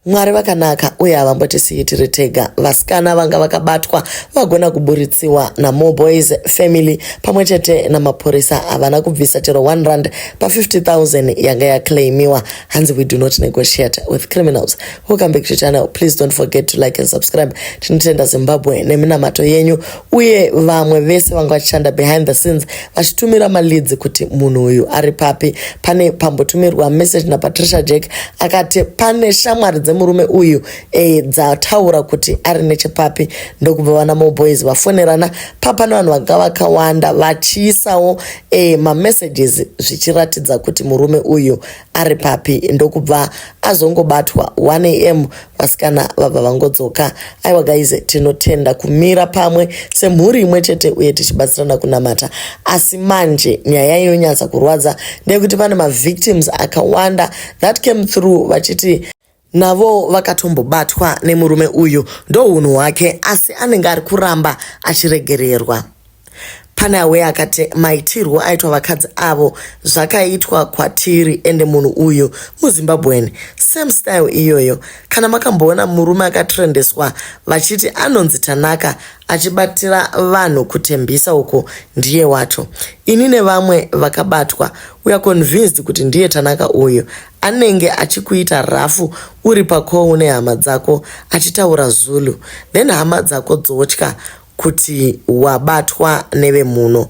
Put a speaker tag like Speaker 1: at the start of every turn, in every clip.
Speaker 1: Mwari vakanaka uye havambotisiyi tiri tega. Vasikana vanga vakabatwa vagona kuburitsiwa naMore Boys family pamwe chete namapurisa havana kubvisa chero 1 rand pa 50000 yanga yaclaimiwa. Hanzi we do not negotiate with criminals. Welcome back to channel. Please don't forget to like and subscribe. Tinotenda Zimbabwe neminamato yenyu uye vamwe vese vanga vachishanda behind the scenes vachitumira maleads kuti munhu uyu ari papi pane pambotumirwa message napatricia jack akati pane shamwari dzemurume uyu e, dzataura kuti ari nechepapi ndokubva vana moboys vafonerana papane vanhu vanga vakawanda vachiisawo e, mamessages zvichiratidza kuti murume uyu ari papi ndokubva azongobatwa 1am vasikana vabva vangodzoka aiwa guys tinotenda kumira pamwe semhuri imwe chete uye tichibatsirana kunamata asi manje nyaya inonyatsa kurwadza ndeyekuti pane mavictims akawanda that came through vachiti navowo vakatombobatwa nemurume uyu ndohunhu hwake asi anenge ari kuramba achiregererwa pane awe akati maitirwo aitwa vakadzi avo zvakaitwa kwatiri ende munhu uyu muzimbabwen same style iyoyo kana makamboona murume akatrendeswa vachiti anonzi tanaka achibatira vanhu kutembisa uko ndiye wacho ini nevamwe vakabatwa uya convinced kuti ndiye tanaka uyu anenge achikuita rafu uri pacall nehama dzako achitaura Zulu then hama dzako dzotya kuti wabatwa nevemhuno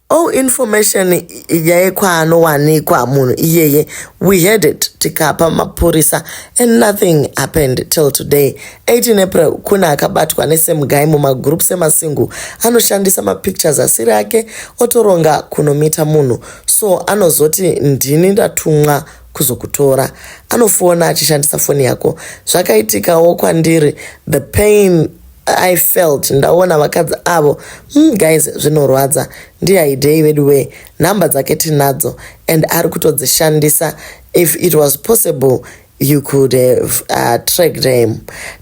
Speaker 1: all information yekwaanowanikwa munhu iyeye we had it tikapa mapurisa and nothing happened till today 18 april kuna akabatwa nesame guy mumagroup semasingle anoshandisa mapictures asiri ake otoronga kunomita munhu so anozoti ndini ndatumwa kuzokutora anofona achishandisa foni yako zvakaitikawo kwandiri the pain i felt ndaona vakadzi avo mm, guys zvinorwadza ndihaidei vedu wee nhamba dzake tinadzo and ari kutodzishandisa if it was possible you could have uh, tracked him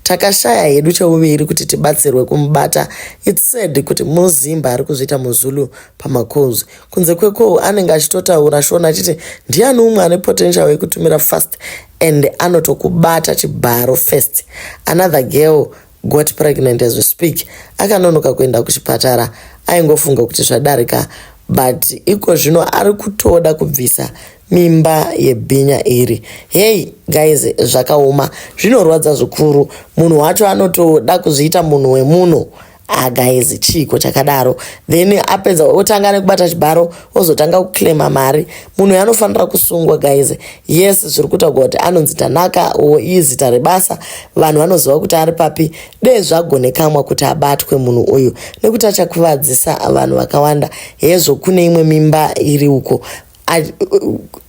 Speaker 1: takashaya hedu cheuviri kuti tibatsirwe kumubata its sad kuti muzimba ari kuzviita muzulu pamacoz kunze kwekoo anenge achitotaura shona achiti ndiani umwe ane potential wekutumira fast and anotokubata chibharo first another girl got pregnant as we speak akanonoka kuenda kuchipatara aingofunga kuti zvadarika but iko zvino ari kutoda kubvisa mimba yebhinya iri hei guys zvakaoma zvinorwadza zvikuru munhu wacho anotoda kuzviita munhu wemunhu ah guys chiiko chakadaro then apedza otanga nekubata chibharo ozotanga kuclaima mari munhu uyo anofanira kusungwa guys yes zviri kutaurwa kuti anonzi tanaka or izita rebasa vanhu vanoziva kuti ari papi dee zvagonekamwa kuti abatwe munhu uyu nekuti achakuvadzisa vanhu vakawanda hezvo kune imwe mimba iri uko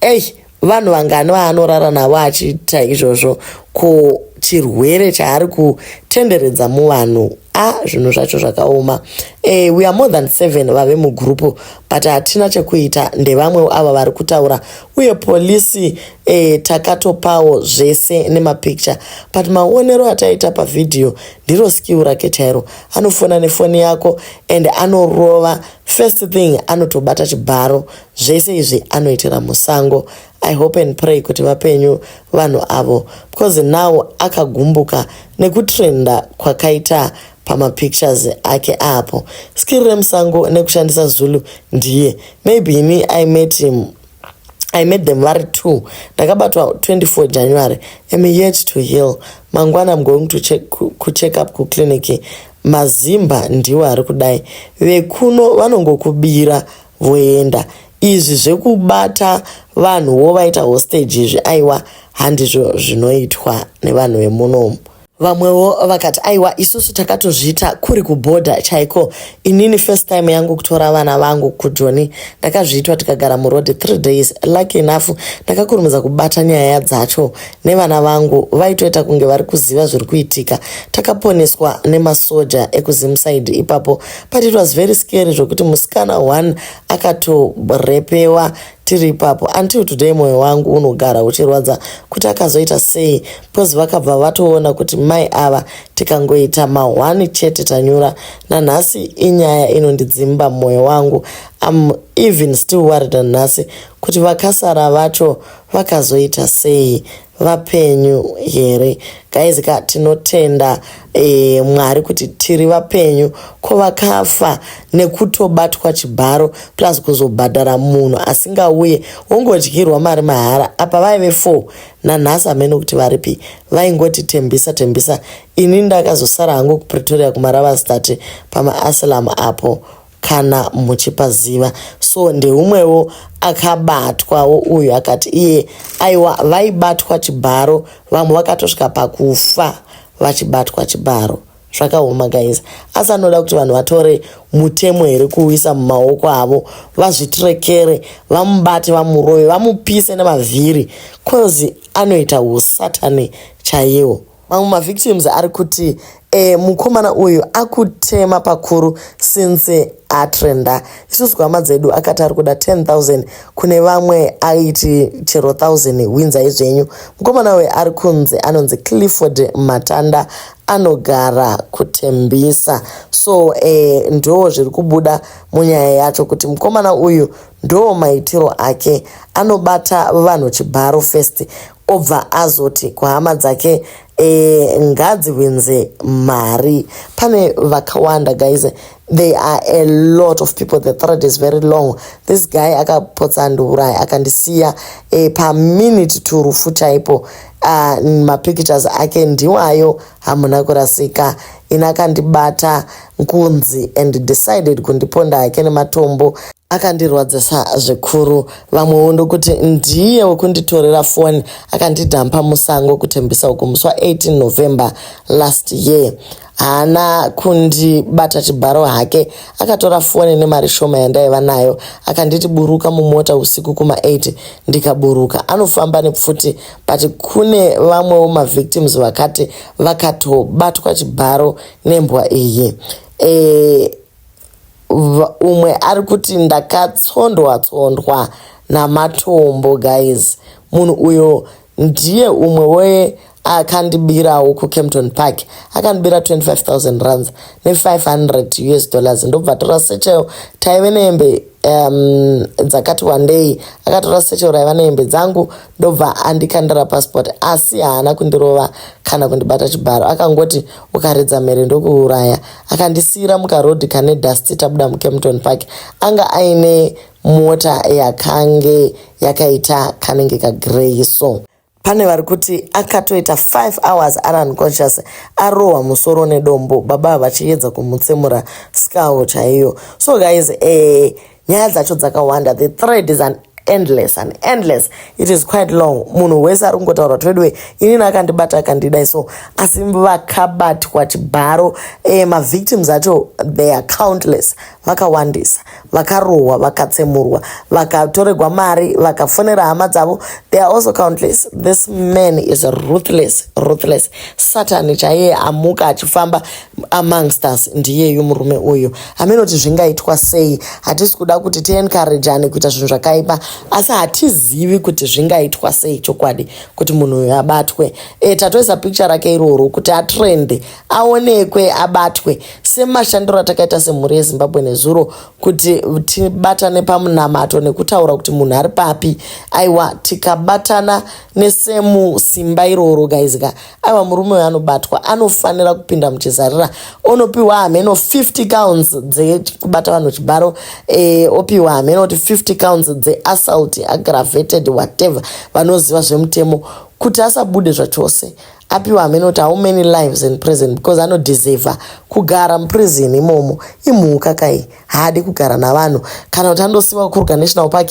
Speaker 1: ei vanhu vangani vaanorara navo achiita izvozvo ko chirwere chaari kutenderedza muvanhu a ah, zvinhu zvacho zvakaoma e, we are more than seven vave mugurupu but hatina chekuita ndevamwe ava vari kutaura uye polisi e, takatopawo zvese nemapicture but maonero ataita pavhidhiyo ndiro skill rake chairo anofona nefoni yako and anorova first thing anotobata chibharo zvese izvi anoitira musango i hope and pray kuti vapenyu vanhu avo because now akagumbuka nekutrenda kwakaita pamapictures ake apo skiri remusango nekushandisa zulu ndiye maybe ini i met him i met them vari two ndakabatwa 24 january am yet to heal mangwana am going to check, kucheck up kuclinic mazimba ndiwo ari kudai vekuno vanongokubira voenda izvi zvekubata vanhu wovaita hostage izvi aiwa handizvo zvinoitwa nevanhu vemunomu vamwewo vakati aiwa isusu takatozviita kuri kubhodha chaiko inini first time yangu kutora vana vangu kujoni ndakazviitwa tikagara muroad three days lucky enough ndakakurumidza kubata nyaya dzacho nevana vangu vaitoita kunge vari kuziva zviri kuitika takaponeswa nemasoja ekuzimside ipapo but it was very scary zvokuti musikana one akatorepewa tiri ipapo until today mwoyo wangu unogara uchirwadza kuti akazoita sei because vakabva vatoona kuti mai ava tikangoita mahwani chete tanyura nanhasi inyaya inondidzimba mwoyo wangu am even still worried nanhasi kuti vakasara vacho vakazoita sei vapenyu here guys ka tinotenda e, mwari kuti tiri vapenyu ko vakafa nekutobatwa chibharo plus kuzobhadhara munhu asingauye wongodyirwa mari mahara apa vaive four nanhasi hameno kuti varipi vaingoti tembisa tembisa ini ndakazosara hangu kupretoria kumaravastate pamaasilam apo kana muchipaziva so ndeumwewo akabatwawo uyu akati iye aiwa vaibatwa chibharo vamwe vakatosvika pakufa vachibatwa chibharo zvakaoma guys asi anoda kuti vanhu vatore mutemo here kuuisa mumaoko avo vazvitirekere vamubate vamurove vamupise nemavhiri coz anoita usatani chaiwo Mamwe mavictims ari kuti e, mukomana uyu akutema pakuru since atrenda isusu hama dzedu akati ari kuda 10000 kune vamwe aiti chero 1000 hwinzai zvenyu mukomana uyu ari kunzi anonzi clifford matanda anogara kutembisa so e, ndo zviri kubuda munyaya yacho kuti mukomana uyu ndo maitiro ake anobata vanhu chibharo first obva azoti kuhama dzake e, ngadzihwinze mari pane vakawanda guys they are a lot of people the thread is very long this guy akapotsa andiuraya akandisiya e, paminute to rufu chaipo uh, mapictures ake ndiwayo hamuna kurasika ini akandibata nkunzi and decided kundiponda hake nematombo akandirwadzisa zvikuru vamwewo ndokuti ndiye wekunditorera foni akandidhampa musango kutembisa uku musi wa 18 november last year haana kundibata chibharo hake akatora foni nemari shoma yandaiva nayo akanditi buruka mumota usiku kuma 8 ndikaburuka anofamba nepfuti but kune vamwewo mavictims vakati vakatobatwa chibharo nembwa iyi eh, umwe ari kuti ndakatsondwa tsondwa namatombo guys munhu uyo ndiye umwe we akandibirawo kucampton park akandibira 25000 runs ne500 us dollars ndobva tora sechayo taive nehembe um, dzakati wandei akatora secho raiva nehembe dzangu ndobva andikandira pasipoti asi haana kundirova kana kundibata chibharo akangoti ukaridza mhere ndokuuraya akandisiyira mukarodhi kane dust tabuda mukempton park anga aine mota yakange yakaita kanenge kagrey so pane vari kuti akatoita 5 hours ari unconscious arohwa musoro nedombo baba vachiyedza kumutsemura skull chaiyo so guys eh, nyaya dzacho dzakawanda the thread is an endless and endless it is quite long munhu wese ari kungotaura kuti veduwe inini akandibata akandidai so asi vakabatwa chibharo eh, mavictims acho they are countless vakawandisa vakarohwa vakatsemurwa vakatoregwa mari vakafonera hama dzavo they are also countless this man is ruthless ruthless satani chaiye amuka achifamba amongst us ndiyeyu murume uyu hameno kuti zvingaitwa sei hatisi kuda kuti tiencouragane kuita zvinhu zvakaipa asi hatizivi kuti zvingaitwa sei chokwadi kuti munhu uyu abatwe e, tatoisa picture rake iroro kuti atrende aonekwe abatwe semashandiro atakaita semhuri yezimbabwe nezuro kuti tibatane pamunamato nekutaura kuti munhu ari papi aiwa tikabatana nesemu simba iroro gaizika aiwa murume uyo anobatwa anofanira kupinda muchizarira onopiwa hameno 50 counts dzekubata vanhu chibharo e, opiwa hameno kuti 50 counts dzeassault aggravated whatever vanoziva zvemutemo kuti asabude zvachose apiwa hameno kuti how many lives in prison because anodeserva kugara muprison imomo imhuka kai haadi kugara navanhu kana kuti anosiva kukuruka national park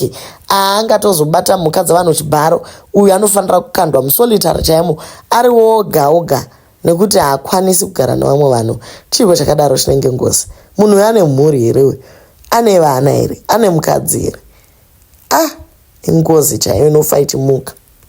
Speaker 1: aangatozobata mhuka dzavanhu chibharo uyu anofanira kukandwa musolitary chaimo ari woga oga nekuti haakwanisi kugara nevamwe vanhu chiiko chakadaro chinenge ngozi munhu uyo ane mhuri here uyu ane vana here ane mukadzi here ah ingozi chaiyo inofa ichimuka